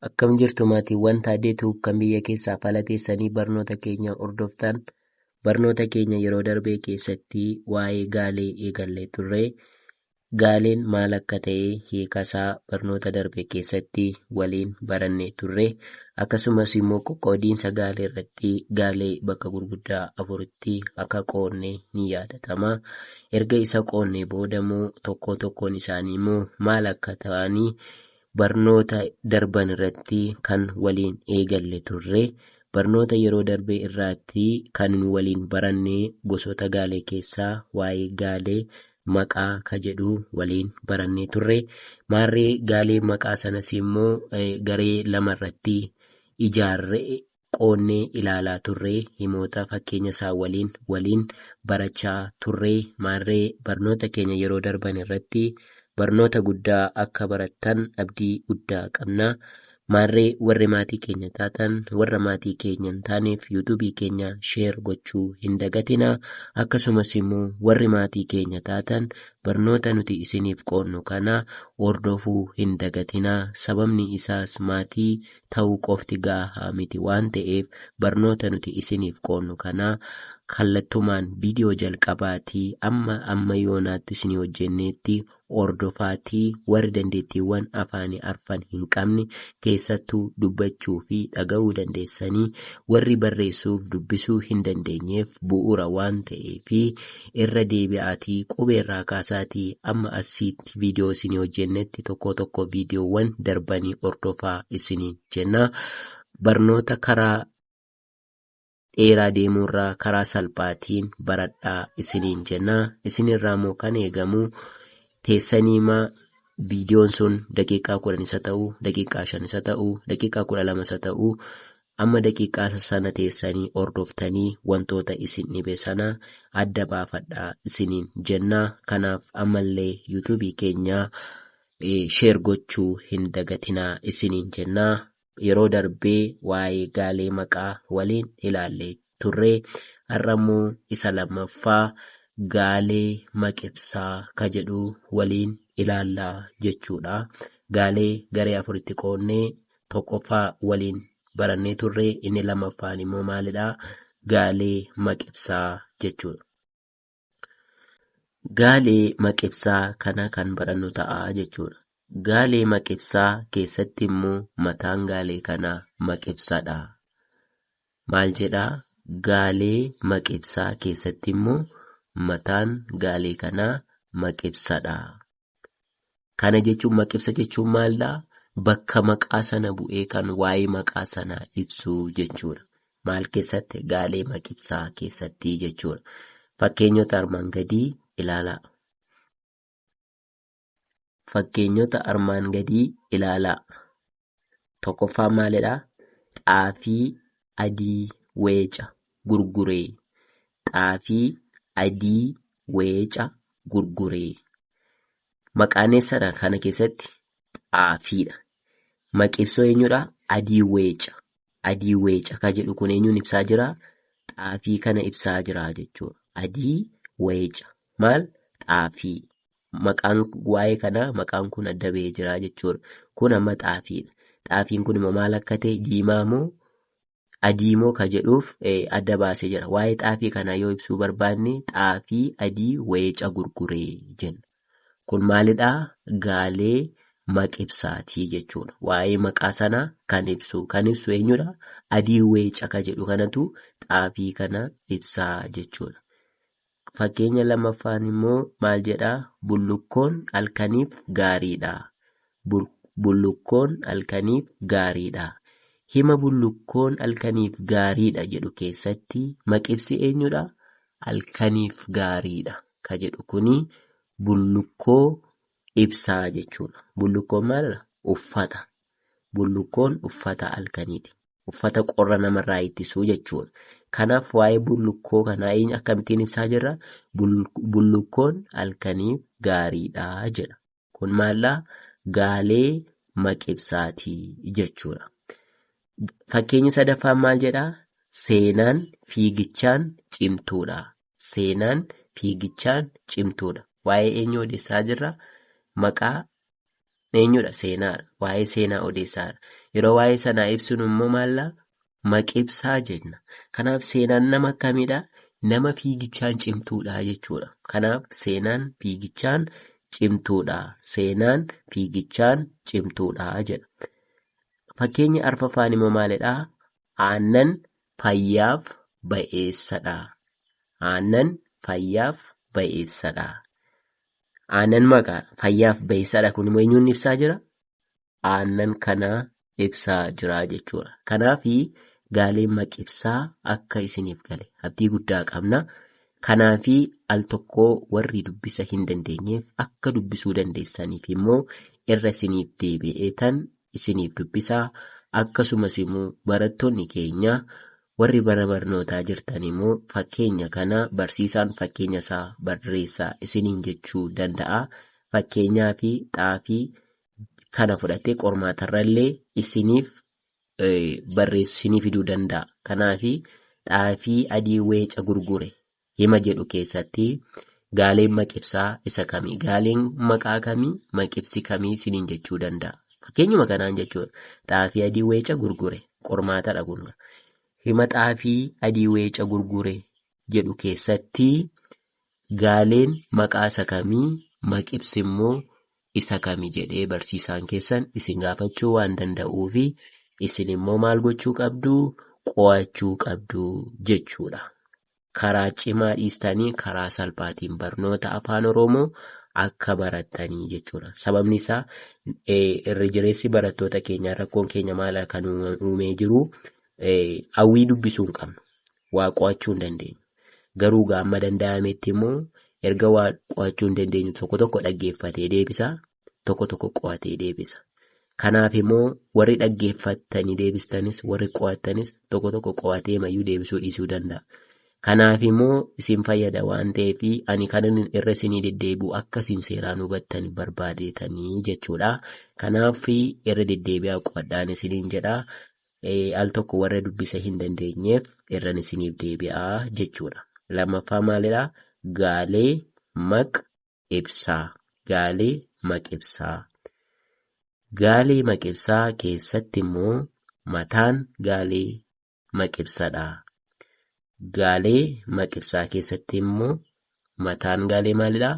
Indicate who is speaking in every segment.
Speaker 1: Akkam jirtu maatiiwwan Taaddee Tube kan biyya keessaa fi ala teessanii barnoota keenya hordoftan. Barnoota keenya yeroo darbee keessatti waa'ee gaalee eegallee turre. Gaaleen maal akka ta'e hiikasaa barnoota darbe keessatti waliin barannee turre. Akkasumas immoo qoqqoodiinsa gaalee irratti gaalee bakka gurguddaa afuritti akka qoodne ni yaadatama. Erga isa qoodnee booda immoo tokkoo tokkoon isaanii immoo maal akka ta'anii barnoota darban irratti kan waliin eegalle turre barnoota yeroo darbe irraatti kan waliin baranne gosoota gaalee keessaa waa'ee gaalee maqaa ka jedhu waliin barannee turre maarree gaalee maqaa sanas immoo garee lama irratti ijaarre qoonnee ilaalaa turree himoota fakkeenya isaa waliin waliin barachaa turree maarree barnoota keenya yeroo darban irratti barnoota guddaa akka barattan abdii guddaa qabna maarree warri maatii keenya taatan warra maatii keenya hin taaneef yuutuubii keenya sheer gochuu hin dagatina akkasumas immoo warri maatii keenya taatan barnoota nuti isiniif qoonnu kana hordofuu hin dagatina sababni isaas maatii ta'uu qofti gaahaa miti waan ta'eef barnoota nuti isiniif qoonnu kanaa kallattumaan viidiyoo jalqabaatii amma amma yoonaatti isinii hojjenneetti ordofaatii warri dandeettiiwwan afaanii arfan hin qabne keessattuu dubbachuu fi dhaga'uu dandeessanii warri barreessuuf dubbisuu hin dandeenyeef bu'uura waan ta'eefi irra deebi'aatii qubee irraa kaasaatii amma assiitti viidiyoo isinii hojjennetti tokkoo tokkoo viidiyoowwan darbanii hordofaa isiniin jenna. Barnoota karaa dheeraa deemuurraa karaa salphaatiin baradhaa isiniin jenna. Isinirraa immoo kan eegamu teessaniima viidiyoon sun daqiiqaa kudhan isa ta'u, daqiiqaa shan isa ta'u, daqiiqaa kudha lama isa ta'u Amma daqiiqaa sana teessanii hordoftanii wantoota isin dhibe sana adda baafadhaa isiniin jenna. Kanaaf ammallee YouTube keenya share gochuu hin dagatinaa isiniin jenna. Yeroo darbee waa'ee gaalee maqaa waliin ilaalle turre har'a immoo isa lammaffaa gaalee maqibsaa ka jedhu waliin ilaalla jechuudha. Gaalee garee afuritti qoonnee tokkoffaa waliin barannee turre inni lammaffaan immoo maalidha? Gaalee maqibsaa jechuudha. Gaalee maqibsaa kana kan barannu ta'a jechuudha. Gaalee maqibsaa keessatti immoo mataan gaalee kanaa maqibsadha. Maal jedhaa? Gaalee maqibsaa keessatti immoo mataan gaalee kanaa maqibsadha. Kana jechuun maqibsa jechuun maaldha? Bakka maqaa sana bu'ee kan waa'ee maqaa sana ibsuu jechuudha. Maal keessatti? Gaalee maqibsaa keessatti jechuudha. Fakkeenyota armaan gadii ilaalaa. Fakkeenyota armaan gadii ilaalaa. Tokkoffaan maalidha? Xaafii adii weeca gurguree. Xaafii adii weeca gurguree. Maqaan eessadha kana keessatti? Xaafiidha. Maqi ibsoo eenyudha? Adii weeca. Adii weeca ka jedhu kun eenyuun ibsaa jira? Xaafii kana ibsaa jira jechuudha. Adii weeca. Maal? Xaafii. maqaan waa'ee kanaa maqaan kun adda ba'ee jira jechuudha. Kun amma xaafiidha. Xaafiin kun immoo maal akka ta'e diimaa moo adii moo ka jedhuuf eh, adda baasee jira. Waa'ee xaafii kanaa yoo ibsuu barbaanne xaafii adii weeca gurguree jenna. Kun maalidhaa? Gaalee maqibsaatii jechuudha. Waa'ee maqaa sanaa kan ibsu. Kan ibsu eenyudha? Adii weeca ka jedhu kanatu xaafii kana ibsaa jechuudha. Fakkeenya lammaffaan immoo maal jedha? Bullukkoon halkaniif gaariidha. Bul- Bullukkoon halkaniif gaariidha. Hima bullukkoon halkaniif gaariidha jedhu keessatti maqibsi eenyudha? Halkaniif gaariidha ka jedhu kuni bullukkoo ibsaa jechuudha. Bullukkoon maalidha? Uffata. Bullukkoon uffata halkaniiti. uffata qorra namarraa ittisu jechuudha. Kanaaf waa'ee bullukkoo kanaa eenyu akkamittiin ibsaa jirra? Bul- Bullukkoon halkaniif gaariidha jedha. Kun maaldha? Gaalee maqibsaati jechuudha. Fakkeenyi sadaffaan maal jedha? Seenaan fiigichaan cimtuudha. Seenaan fiigichaan cimtuudha. Waa'ee eenyu odeessaa jirra? Maqaa Eenyudha? Seenaadha. Waa'ee seenaa odeessaadha. Yeroo waa'ee sanaa ibsinu immoo maallaa? Maqibsaa jenna. Kanaaf seenaan nama akkamiidha? Nama fiigichaan cimtuudha jechuudha. Kanaaf seenaan fiigichaan cimtuudha. Seenaan fiigichaan cimtuudha jedha. Fakkeenyi arfaffaan immoo maalidha? Aannan fayyaaf ba'eessadha. Aannan fayyaaf ba'eessadha. Aannan maqaa fayyaaf bayeessaadha kun immoo eenyuun ibsaa jira? Aannan kana ibsaa jira jechuudha. Kanaaf gaaleen maqibsaa akka isiniif gale abdii guddaa qabna. Kanaaf al tokkoo warri dubbisa hin dandeenyeef akka dubbisuu dandeessaniif immoo irra isiniif deebi'eetan isiniif dubbisa, akkasumas immoo barattoonni keenya warri mana barnootaa jirtan immoo fakkeenya kana barsiisaan fakkeenya isaa barreessaa isiniin jechuu danda'a. Fakkeenyaa fi xaafii kana fudhatee qormaatarra illee isiniif barreessu isinii fiduu danda'a. Kanaaf xaafii adii weeca gurgure Hima jedhu keessatti gaaleen maqibsaa isa kami? Gaaleen maqaa kami? Maqibsi kami isiniin jechuu danda'a. Fakkeenyuma kanaan jechuudha. Xaafii adii weeca gurgure. Qormaatadha kun. Hima xaafii adii weeca gurgure jedhu keessatti gaaleen maqaa isa kami? Maqibsi immoo isa kami jedhee barsiisaan keessan isin gaafachuu waan danda'uufi isin immoo maal gochuu qabdu? Qo'achuu qabdu jechuudha. karaa cimaa dhiistanii karaa salphaatiin barnoota afaan Oromoo akka barattanii jechuudha. Sababni isaa irra jireessi barattoota keenyaa rakkoon keenya maal akka nu uumee jiru hawwii dubbisuu hin qabnu. Waa qo'achuu hin dandeenyu. Garuu gaamma danda'ametti immoo erga waa qo'achuu hin dandeenyu tokko tokko dhaggeeffatee deebisaa tokko tokko qo'atee deebisa. Kanaaf immoo warri dhaggeeffattanii deebistanis warri qo'attanis tokko tokko qo'atee mayyuu deebisuu dhiisuu danda'a. Kanaaf immoo isin fayyada waan ta'eef ani kanan irra isinii deddeebi'u akka isin seeraan hubattan barbaadeetanii jechuudha. Kanaaf irra deddeebi'aa qo'adhaan isiniin jedha. Al tokko warra dubbisa hin dandeenyeef irran isiniif deebi'aa jechuudha. Lammaffaa maalidha? Gaalee, maq, ibsaa. Gaalee maqibsaa. Gaalee maqibsaa keessatti immoo mataan gaalee maqibsadha. Gaalee maqibsaa keessatti immoo mataan gaalee maalidha?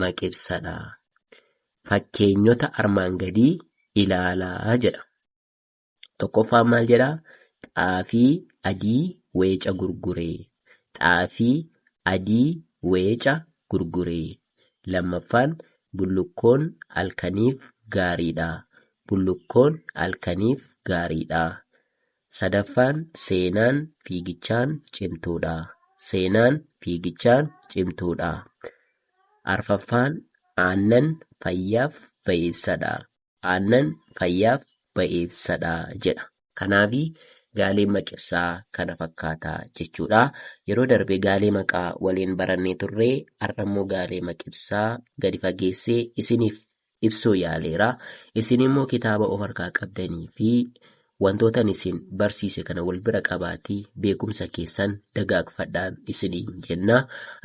Speaker 1: Maqibsadha. Fakkeenyota armaan gadii ilaalaa jedha. Tokkoffaan maal jedha? Xaafii adii weeca gurgure. Xaafii adii weeca gurgure. Lammaffaan bullukkoon halkaniif gaariidha. Bullukkoon halkaniif gaariidha. Sadaffaan seenaan fiigichaan cimtuudha. Seenaan fiigichaan cimtuudha. Arfaffaan aannan fayyaaf bayeessadha. aannan fayyaaf bayeessadha jedha. Kanaafi gaaleen maqibsaa kana fakkaata jechuudha. Yeroo darbe gaalee maqaa waliin barannee turre, har'ammoo gaalee maqibsaa gadi fageessee isiniif ibsuu yaaleera. Isinimmoo kitaaba of harkaa qabdaniifi Wantoota ani isin barsiise kana wal bira qabaatii beekumsa keessan dagaagfadhaan isiniin jenna.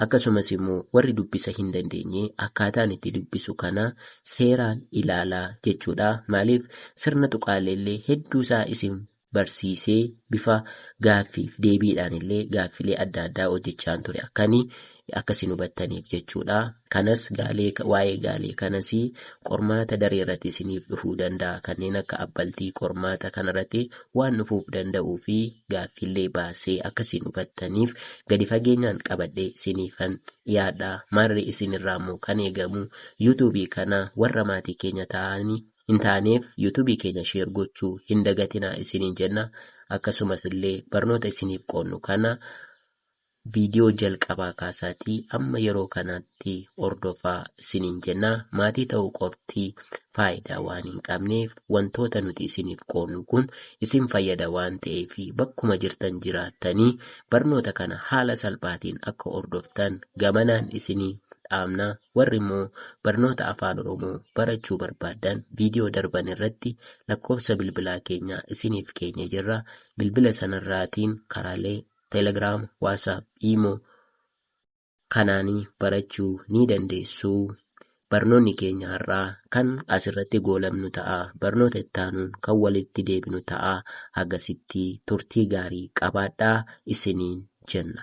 Speaker 1: Akkasumas immoo warri dubbisa hin dandeenye akkaataan itti dubbisu kana seeraan ilaalaa jechuudha. Maaliif sirna tuqaalee illee hedduusaa isin barsiisee bifa gaaffiif deebiidhaan illee gaaffilee adda addaa hojjechaan ture akkani akka isin hubattaniif jechuudha. Kanas gaalee waa'ee gaalee kanas qormaata daree irratti isiniif dhufuu danda'a. Kanneen akka abbaltii qormaata kanarratti waan dhufuuf danda'uu fi gaaffiillee baasee akka isin hubattaniif gadi fageenyaan qabadhee isiniifan dhiyaadha. Maarree isinirraa immoo kan eegamu yuutuubii kana warra maatii keenya ta'anii hin taaneef yuutuubii keenya sheer gochuu hin dagatinaa isiniin jenna. Akkasumas illee barnoota isiniif qoodnu kana Viidiyoo jalqabaa kaasaatii amma yeroo kanaatti hordofaa isiniin jenna. Maatii ta'uu qofti faayidaa waan hin qabneef wantoota nuti isiniif qoodnu kun isin fayyada waan ta'eef bakkuma jirtan jiraattanii barnoota kana haala salphaatiin akka hordoftan gamanaan isinii dhaamna. Warri immoo barnoota Afaan Oromoo barachuu barbaaddan viidiyoo darban irratti lakkoofsa bilbilaa keenya isiniif keenye jirra. Bilbila sanarraatiin karaalee Telegram, WhatsApp, Imo kanaanii barachuu ni dandeessu. Barnoonni keenya har'aa kan asirratti goolabnu ta'a. Barnoota ittaanuun kan walitti deebinu ta'a. Hagasitti turtii gaarii qabaadhaa isiniin jenna.